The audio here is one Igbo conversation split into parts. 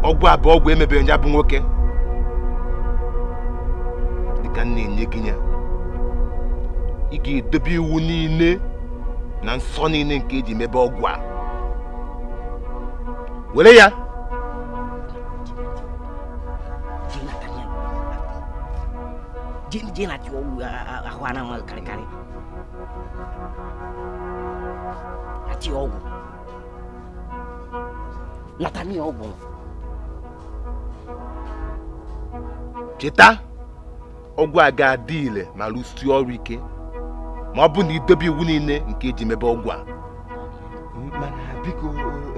ọgwụ a bụ ọgwụ emebere ya bụ nwoke dịka m na-enye gị ya ị ga-edobe iwu niile na nsọ niile nke eji mebe ọgwụ a were ya jin na ciwo a hwana ma karkare a ciwo Natania ọ gwụrụ cheta ọgwụ a ga-adị ire ma rụsie ọrụ ike ma ọ bụ na i dobe iwu niile nke eji mebe ọgwụ a biko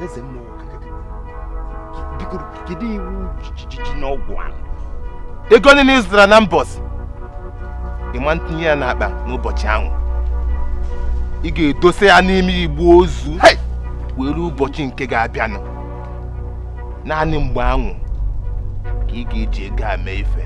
eze mmụọ biko kedu iwu dị n'ọgwụ ahụ ego niile ị zụtara na mbọsị ị ma ntinye ya n'akpa n'ụbọchị ahụ ị ga-edosa ya n'ime igbe ozu wee ruo ụbọchị nke ga-abịanụ naanị mgbe ahụ ka ị ga-eji ego a mee ife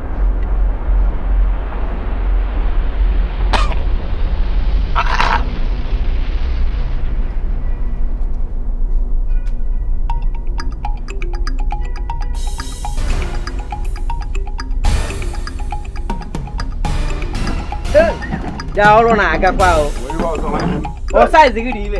ya ọrụ na-agakwa o o size gị dị ime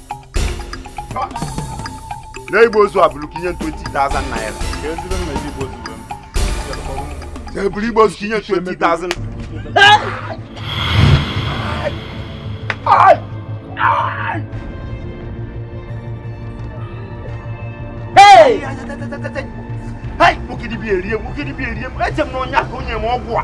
na igbe ozu a bụrụ ka inye 20,000 naira eburu igbe ozu ka inye 20,000 Hey! Hey! Nwoke dibịa erie m, nwoke dibịa erie m, eche m na onye aka onye m ọgwụ a.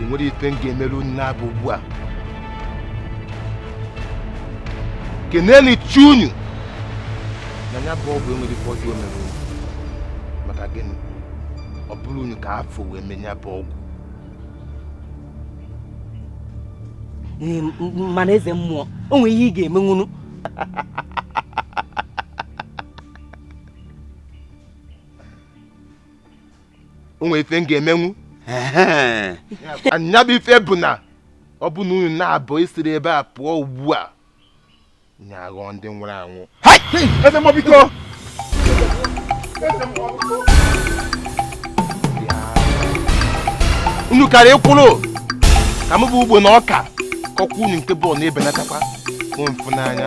enwero ife m ga-emere unu naabọ ugbu a keneenụ chi unu na ya bụ ọgwụ enwero ife ọjọọ o mere unu maka gịnị ọ bụrọ unu ka a fụ wee mee ya bụ ọgwụ mana eze mmụọ o nwere ihe ị ga-emenwunụ o nwere ife m ga-emenwu nya bụ ife bụ na ọ bụ na unu naabọ esiro ebe a pụọ ugbu a unu aghọọ ndị nwụrụ anwụ eze mmụọ biko unu kara ịkwụrụ ka m bụ ugbo na ọka kọkwa unu nke bọọlụ na-ebelatakwa mfu n'anya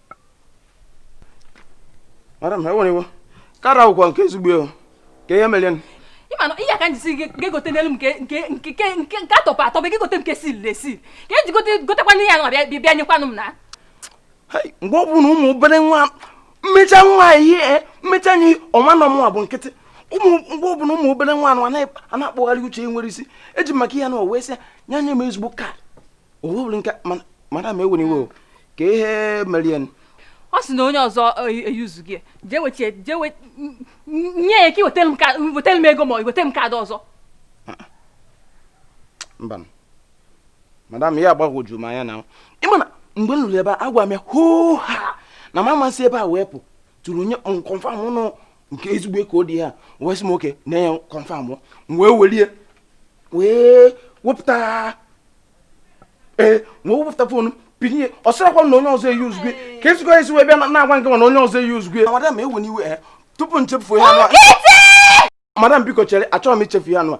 madam ewena iwe kaadị ọkwa nke ezigbo kee ihe mere ịmana ihe a ka nji sị gị egotenalụ m nke atọpụ atọpụ ga-egote nke sil na esil ka ị jee gotekwa ihe a bịa nyekwanụ m na mgbe ọ bụna ụmụ obere nwa mmecha nwa ihe eh, mmecha ya ọ ma na ọ mụnwa bụ nkịtị mgbe ọ bụla ụmụ obere nwa anụ a na-akpọgharị uche nwere isi eji maka ihe a nụ wee sị ya nye m ezigbo kaadị owubiri nke madam ewena iwe o kee ihe mere ọ sị na onye ọzọ eyuzugo ya jee wechie jee wee nye ya ka iwetara m ego ma ọ wetara m kaadị ọzọ mba madam ihe a agbagwoju m anya na ịma na mgbe m lulu ebe a agwa m ya hoo ha na madam sị ebe a wepụtụrụ nye m kọnfam nụ nke ezigbo kaadị ya wee sị m oke na ya kọnfam m wee welie wee wepụta ee wee wepụta fon m pinye ọ sịrakwa na onye ọzọ eyuzugo ya ka ezigbo esi wee bịa na-agwa nke na onye ọzọ eyuzugo ya madam ewena iwe eh, tupu nchefu ya madam biko chere achọghị m ichefu ya nụa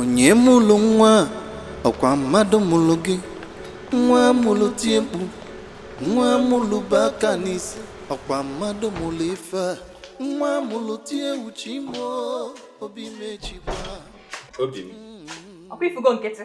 onye mụlụ nwa ọkwa mmadụ mụlụ gị nwa mụlụ tie mkpu nwa mụlụ bu aka n'isi ọkwa mmadụ mụlụ ife a nwa mụlụ tie uche imo obi mechikwa obi m ọkwa ịfụgo nkịtị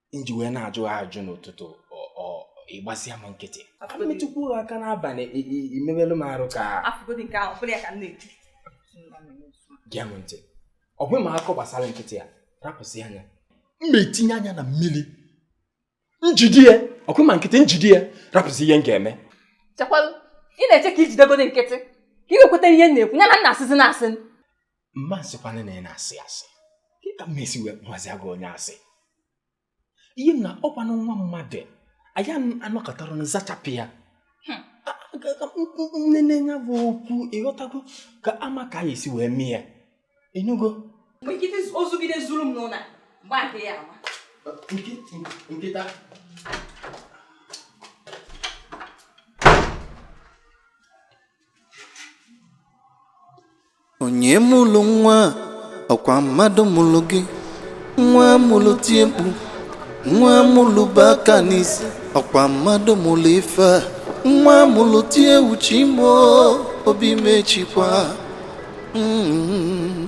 nji wee na-ajụ ajụ n'ụtụtụ ịgbasịa m nkịtị m metụkwu aka n'abalị imebelu m arụ ka gee m ntị ọ bụghị ma akọ gbasara nkịtị ya rapụsị anya m na-etinye anya na mmiri njide ya ọkwa ma nkịtị njide ya rapụsị ihe m ga-eme chekwalụ ị na-eche ka ijidegode nkịtị ka ị wee kweta ihe m na-ekwu ya na m na-asịzi na asị mba nsịkwana na ị na-asị asị ka m esi wee kpọzịa gị onye asị ihe m na ọkwanụ nwa mmadụ anyị anọkọtara na zachapụ ya nene ya bụ okwu ịghọtago ka ama ka anyị esi wee mee ya ịnụgo ozugide zuru m n'ụlọ mgbe a ga-eyi ama nkịta onye mụlụ nwa ọkwa mmadụ mụlụ gị nwa mụlụ tie mkpu nwa mụlụ bu aka n'isi ọkwa mmadụ mụlụ ife a nwa mụlụ tie uche imo obi mechikwa Mm.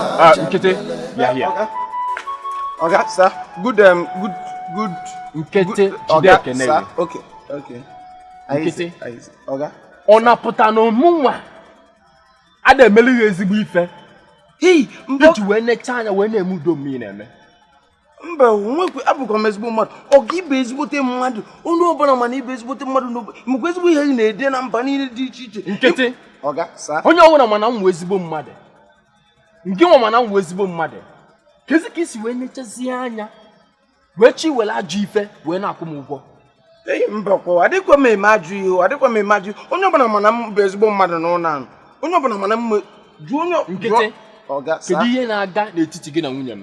Ah, Nkịtị, yeah, yeah. Okay. Okay, sir. Good, um, good, good. Nkịtị, okay, sir. Okay, okay. Nkịtị, okay. Ọ na-apụta na mụnwa adị emere gị ezigbo ife. Hei, mbọ. Iji wee necha anya wee na-eme ụdị omume ị na-eme. mba onwekwe abụkwa m ezigbo mmadụ oga ị bụ ezigbote mmadụ onye ọbụla ma na ị bụ ezigbote mmadụ n'obodo mekwa ezigbo ihe gị na-ede na mba niile dị iche iche nkịtị onye ọbụla ma na m bụ ezigbo mmadụ ngịnwa ma na m bụ ezigbo mmadụ kezi ka i si wee nechazie anya wee chi were ajọ ife wee na-akwụ m ụgwọ eyi mba kwa adịkwa m eme ajọ ihe adịkwa m eme ajọ onye ọbụla ma na m bụ ezigbo mmadụ n'ụlọ ahụ onye ọbụla ma na m jụọ onye nkịtị kedu ihe na-aga n'etiti gị na nwunye m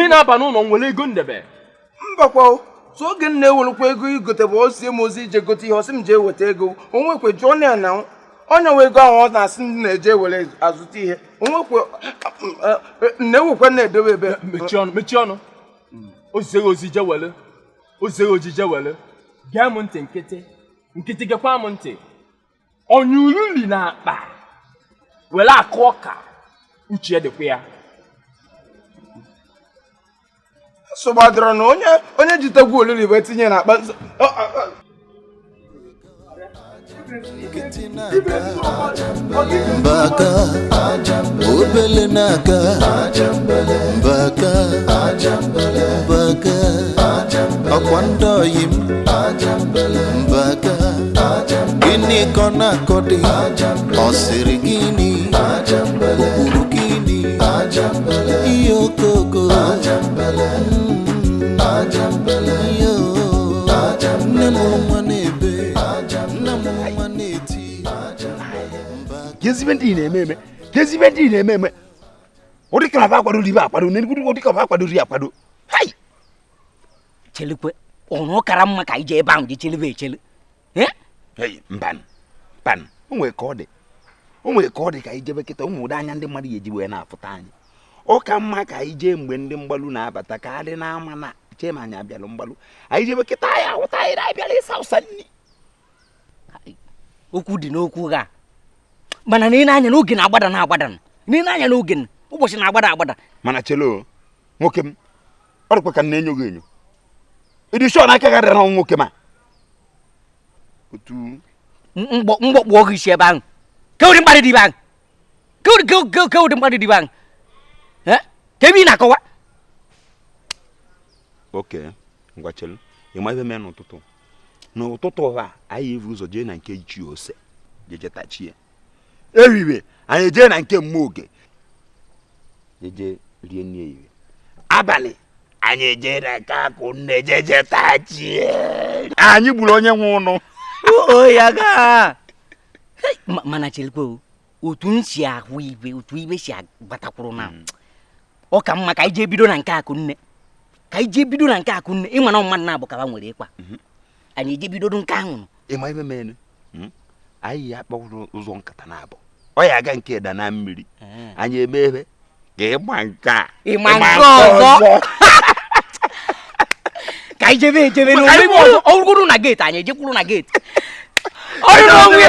Ị na-aba n'ụlọ m ewere ego m debe. Mbakwa sọ oge m na-ewerekwa ego igote bụ o zie m ozi ije gote ihe ọ sị m jee weta ego onwekwe jụọnụ ya na onye nwe ego ahụ ọ na-asị m na-eje ewere azụta ihe onwekwe eh, eh, na-ewekwa na-edobe ebe mechie ọnụ mechie ọnụ o zie gị ozi jee were o zie gị ozi jee were gee m ntị nkịtị nkịtị gekwa m ntị onye olili na akpa were akụ ọka uche dịkwa ya nsogbu adịrọ na onye onye jitegwu olili wee tinye na akpa mbaka obele na-aga mbaka mbaka ọkwa ndị oyi m mbaka gịnị ka ọ na-akọdị ọ sịrị gịnị o kwuru gịnị ihe okoko ihe o nne mụrụ nwa na-ebe nna mụrụ nwa na-eti kezi ife ndị ị na-eme eme kezi ife ndị ị na-eme eme ọ dị ka na fa kwadoro ife akwado na ọ dị ka na fa kwadoro ya akwado hai chelukwenụ ọ kara mma ka anyị jee ebe ahụ jee chelibe echeli mban mban o nwere ka ọ dị o nwere ka ọ dị ka anyị jebe kịta ị ma ụdị anya ndị mmadụ ga-eji wee na-afụta anyị ọ ka mma ka anyị jee mgbe ndị mgbalụ na-abata ka adị n'ama na-eche ma anyị abịalụ mgbalụ anyị jebe kịta a ya-ahụta anyị na-abịala ịsa ụsa nri okwu dị n'okwu gị a mana nene anya na oge na-agbada na-agbada nene anya na oge ụbọchị na-agbada agbada mana chelo nwoke m ọ dịkwa ka m na-enyo gị enyo ị dị sure na aka gị adịrọ na nwoke m a otu m gbọkpụọ gị isi ebe ahụ ke ụdị mkparị dị ife ahụ ke ụdị ke- ke- ke ụdị mkparị dị ife ahụ Eh? ke ife ị na-akọwa okay ngwa chelu ị ma ife mee n'ụtụtụ n'ụtụtụ a anyị evuru ụzọ jee na nke ichie ose jee jetachi ya ehihie anyị ejee na nke mma oge jeje rie nri ehihie abalị anyị ejee na nke akụnne jeje tachie anyị gburu onye nwe ụnụ ya gaa mana cherekwa otu m si ahụ ihe otu ihe si agbatakwuru na hmm. ọ ka mma ka anyị jee bido na nke akụnne ka anyị jee bido na nke akụnne ịma na mmadụ naabọ ka ba nwere ịkwa mhm. anyị eje bidodo nke ahụ nụ ịma ihe menu hmm? anyị ya kpọrọ ụzọ nkata naabọ ọ ya aga nke da na mmiri eh. anyị eme ebe ka ịma nke a ịma nke ọzọ ka anyị jebe ejebe ọ wụrụ na gate anyị ejekwuru na gate ọ bụ onye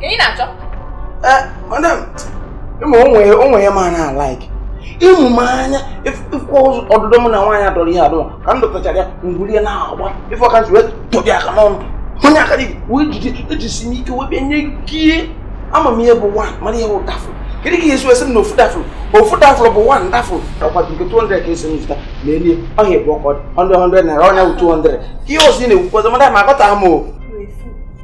Ka ị na-achọ? Eh, madam, ịma onwe ya ma na-alike. ịmụ m anya ịfụkwa ọ bụrụ mụ na nwaanyị adọrọ ihe adọ ma ka m dọtachara ya ngwuri ya na-agba ife ọka ji wee tọbi aka n'ọnụ onye aka dị wee jide ejisi m ike wee bịa nye kie ama m ihe bụ one mara ihe bụ dafụ kedu ka ihe esi wesị m na ofu dafụ ofu dafụ bụ one dafụ ọkwa nke 200 ka esi m zụta na elie ọhịa bụ ọkọ 100 naira ọ nya bụ 200 ihe ọzọ ị na-ekwukwazi madam aghọtaghị m o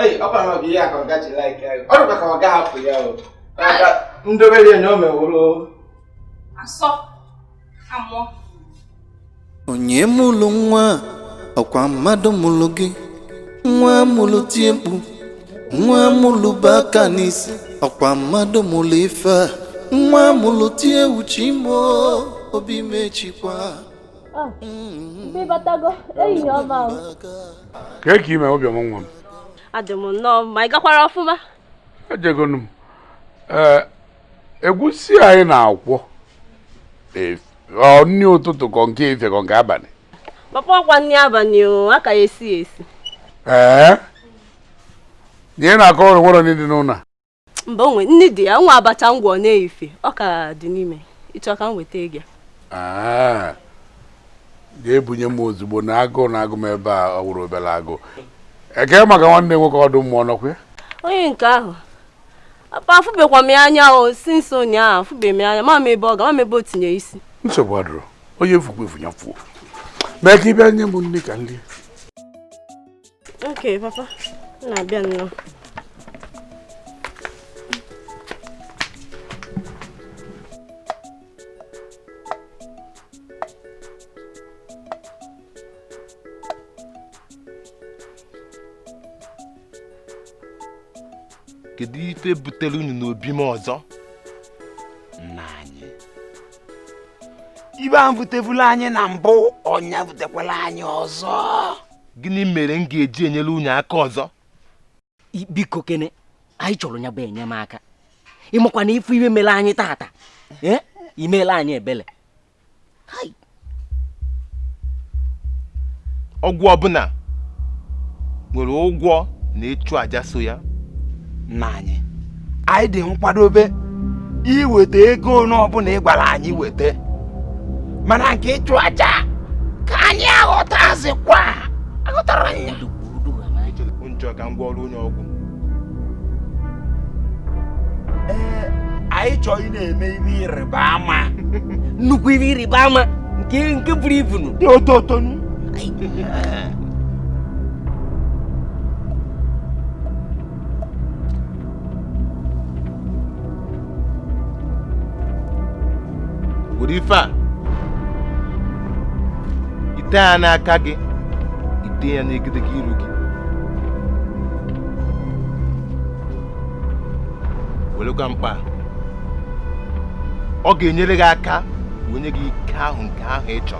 Ei, ọ bara ọbịa ya ka ọ ga-eji like ya. Ọ dịkwa ka ọ ga-ahapụ ya o. Ndobe ya na o meworo. Asọ, amụọ. Onye mụrụ nwa ọkwa mmadụ mụrụ gị. Nwa mụrụ tie mkpu. Nwa mụrụ bu aka n'isi. Ọkwa mmadụ mụrụ ife a. Nwa mụrụ tie chi m o. Obi mechikwa. Ah, mgbe ịbatago ehihie ọma o. kee ka ị mee obiọma nwa m adị m nnọọ mma ị gakwara ọfụma ejegonu m ee egwusi anyị na-akwọ e- ọ nri ụtụtụ ka ọ nke efifie ka ọ nke abalị papa ọkwa nri abalị o a ka esi ya esi ee na ị na-akọrọ o nwere nri dị n'ụlọ a mba o nwe nri dị ya nwa abacha m gwọ n'efifie ọ ka dị n'ime ịchọ ka m wetara gị ah, ga-ebunye m ozugbo na agụụ na-agụ m ebe a ọ wụrọ obere agụụ kee maka nwanne nwoke ọdụ mmụọ ọ nọkwa ya onye nke ahụ papa afụbekwa m ya anya o since ụnyaahụ afụbe m ya anya ama m ebe ọ ga ama m ebe o tinye isi nsogbu adịrọ onye fukwa efu ya fuo mee ka ị bịa nye m nri ka m rie Okay, papa. M na-abịa nnọọ. kedu ife butere unu n'obi m ọzọ nna anyị ife ahụ butebula anyị na mbụ ọ nya butekwala anyị ọzọ gịnị mere m ga-eji enyere unu aka ọzọ biko kene anyị chọrọ nya bụ enyemaka ịmakwa na ị fụ ife mere anyị tata eh? i mela anyị ebele ọgwụ ọbụla nwere ụgwọ na ịchụ aja so ya nna anyị anyị dị nkwadobe iweta ego ole ọbụla ị gwara anyị weta mana nke ịchụ aja ka anyị aghọtazikwa aghọtara anya njọ ka m gwa ọrụ onye ọgwụ ee anyị chọrọ ị na-eme ihe ịrịba ama nnukwu ihe ịrịba ama nke buru ibu nụ dị oto oto nụ were ife a i tee ya n'aka gị i tee ya n'egedege iru gị werekwa mkpa a. ọ ga-enyere gị aka wee nye gị ike ahụ nke ahụ ị chọrọ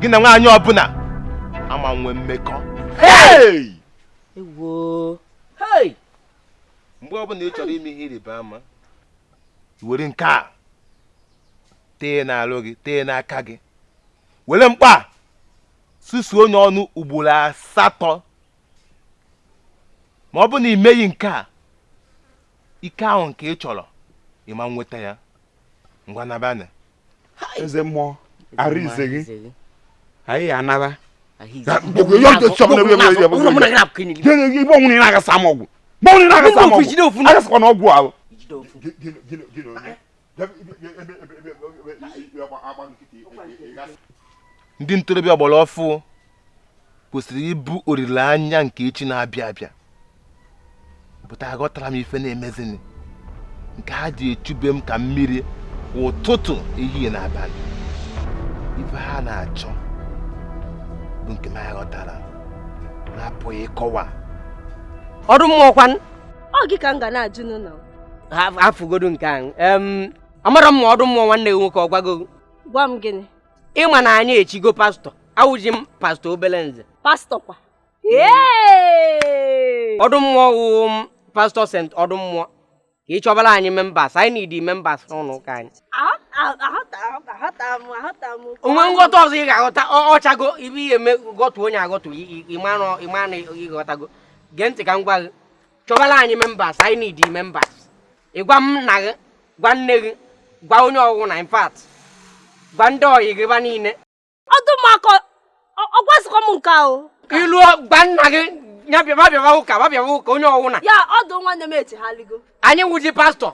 gị na nwaanyị ọbụla ama nwe mmekọ mgbe ọbụla ị chọrọ ime ihe ịrịba ama were nke a tee n'alụ gị tee n'aka gị were mkpa susuo nya ọnụ ugboro asatọ ma ọ bụ na i meghị nke a ike ahụ nke ị chọrọ ị ma enweta ya ngwa nabanụ eze mmụọ arụ ize gị anyị anaba igbo ọnwụ na agasa m ọgwụ mgbe ọnwụ na agasa m ọgwụ agasakwa na ọgwụ ahụ ndị ntorobịa ọgbara ọfụ kwesịrị ịbụ olileanya nke echi na-abịa abịa but aghọtara m ife na-emezini nke ha ji echu be m ka mmiri ụtụtụ ehihie na abalị ife ha na-achọ bụ nke m aghọtara na-apụghị ịkọwa ọdụ mmụọ kwanụ ọ gị ka m ga na-ajụ n'ụlọ afụgodu nke ahụ amarọ m ma ọdụ mmụọ nwanne gị nwoke ọ gwago gwa m gịnị ị ma na anyị echigo pastọ awụzi m pastọ obele nze pastọ kwa ọdụ mmụọ wụ pastọ saint ọdụ mmụọ ka ị chọbara anyị members anyị need members n'ụlọ ụka anyị o nwe nghọta ọzọ ị ga-aghọta ọchago ibe ihe eme gọtụ onye agọtụ ịmanụ ị ghọtago gee ntị ka m gwa gị chọbara anyị members anyị need members ị gwa nna gị gwa nne gị gwa onye ọwụna in fact gwa ndị ọyị gị ba niile ọdụmakọ ọgwazikọ m nke ahụ i lu gwa nna gị ya bịaba bịaba ụka ba bịaba ụka onye ọwụna ya ọdụ nwanne m echegharịgo anyị wụzi pastor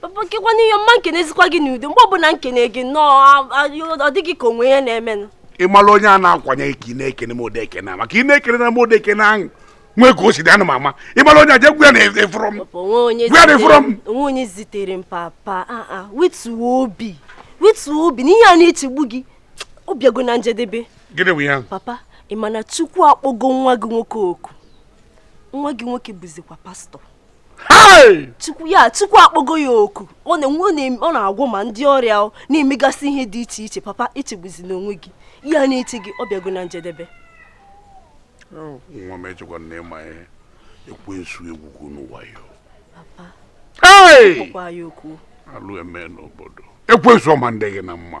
papa kekwanụ ihe m ma nkenezikwa gị n'udo mgbe ọbụla m kene gị nnọọ ọ dị gị ka o nwe ihe na-emenụ ị mara onye a na-akwanye ka ị na-ekene m ụdị ekene maka ị na-ekene na m ụdị ekene ahụ nwee ka o si dị ana m ama ị mara onye aja egwu ya na-efụrọ m egwu ya na-efụrọ m o nwe onye zitere m papa ah, ah, wetuo obi wetuo obi n'ihe a na-echegbu gị ọ bịago na njedebe gịnị bụ ya papa ị ma na chukwu akpọgo nwa gị nwoke oku nwa gị nwoke bụzikwa pastor chukwu ya chukwu akpọgo ya oku ọ na-agwọ ma ndị ọrịa na-emegasị ihe dị iche iche papa echegbuzina onwe gị ihe a na-eche gị ọ bịago na njedebe nwa m echekwa na ị ma ihe ekwensu egwugwu n'ụwa ya alụ eme n'obodo ekwensu ọ ma ndị gị na mma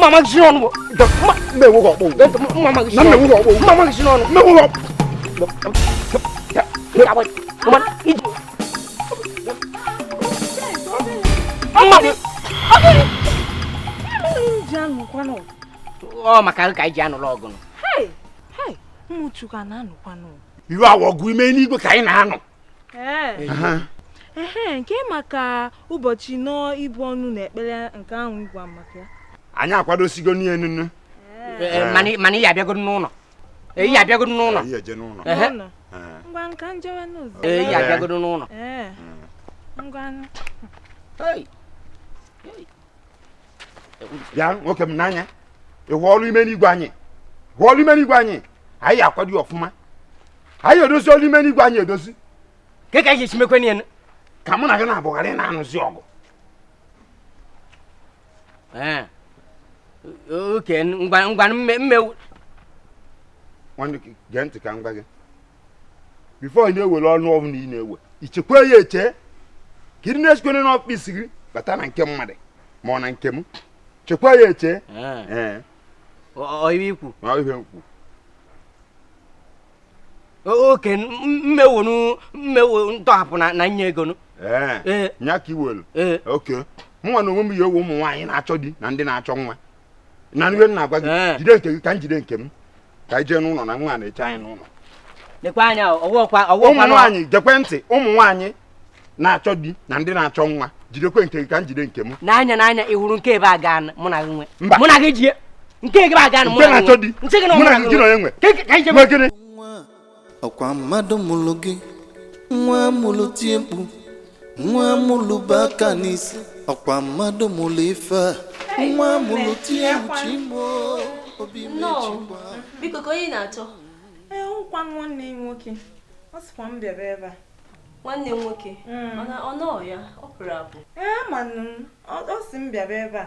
mama john mama john ọ maka ka anyị ji anụrụ ọgụ nụ iwe a wụ ọgụ ime enigwe ka anyị na-anụ ee nke maka ụbọchị anọ ibu ọnụ na ekpere nke ahụ ị gwa m maka ya anyị akwadosigo n'ihe nunu mana ị ya-abịagodu n'ụlọ ị ya-abịagodu n'ụlọ ngwa ka m jewe n'ụzọ ị ya-abịagodu n'ụlọ ngwa bịa nwoke m n'anya ị hụ ọrụ ime enigwe anyị hụ ọrụ ime enigwe anyị anyị akwado ya ọfụma anyị edozi ọrụ ime enigwe anyị edozi kee ka e si mekwe n'ihe ka mụ na gị na-abụgharị na-anụzi ọgụ okay ngwa ngwa mmewu nwanne gee ntị ka m gwa gị before ị na-ewere ọnụ ọbụna ị na-ewe i chekwa ya eche ka ịdị na-esikwere n'office gị bata na nke mmadụ ma ọ na nke m chekwa ya eche ọ ihe i kwu ọ ihe i kwu okay mmewonu mmewo ntọhapụ na nye ego ee nya ka i welu okay mụnwa n'onwe m ya-ewe ụmụ nwaanyị na-achọ di na ndị na-achọ nwa na ihe m na-agwa gị jide nke gị ka m jide nke m ka anyị jee n'ụlọ na nwa na-eche anyị n'ụlọ lekwa anya ụmụ nwaanyị gekwe ntị ụmụ nwaanyị na-achọ di na ndị na-achọ nwa jidekwe nke gị ka m jide nke m n'anya n'anya ị hụrụ nke ebe a gaa mụ na gị nwe mụ na gị jie nke ebe a gaa mụ na gị nwe nke na-achọ di mụ na gị nwe ọkwa mmadụ mụrụ gị wa mụrụ tie mkpu wa mụrụ bu aka n'isi ọkwa mmadụ mụrụ ife a wa mụrụ tie chi m o obi mechi gba biko ka onye na-achọ ee nkwa nwanne m nwoke ọ sịkwa m bịara ebe a nwanne m nwoke ọ nọ ya ọ pụrụ apụ ee manụ m ọ sị m bịara ebe a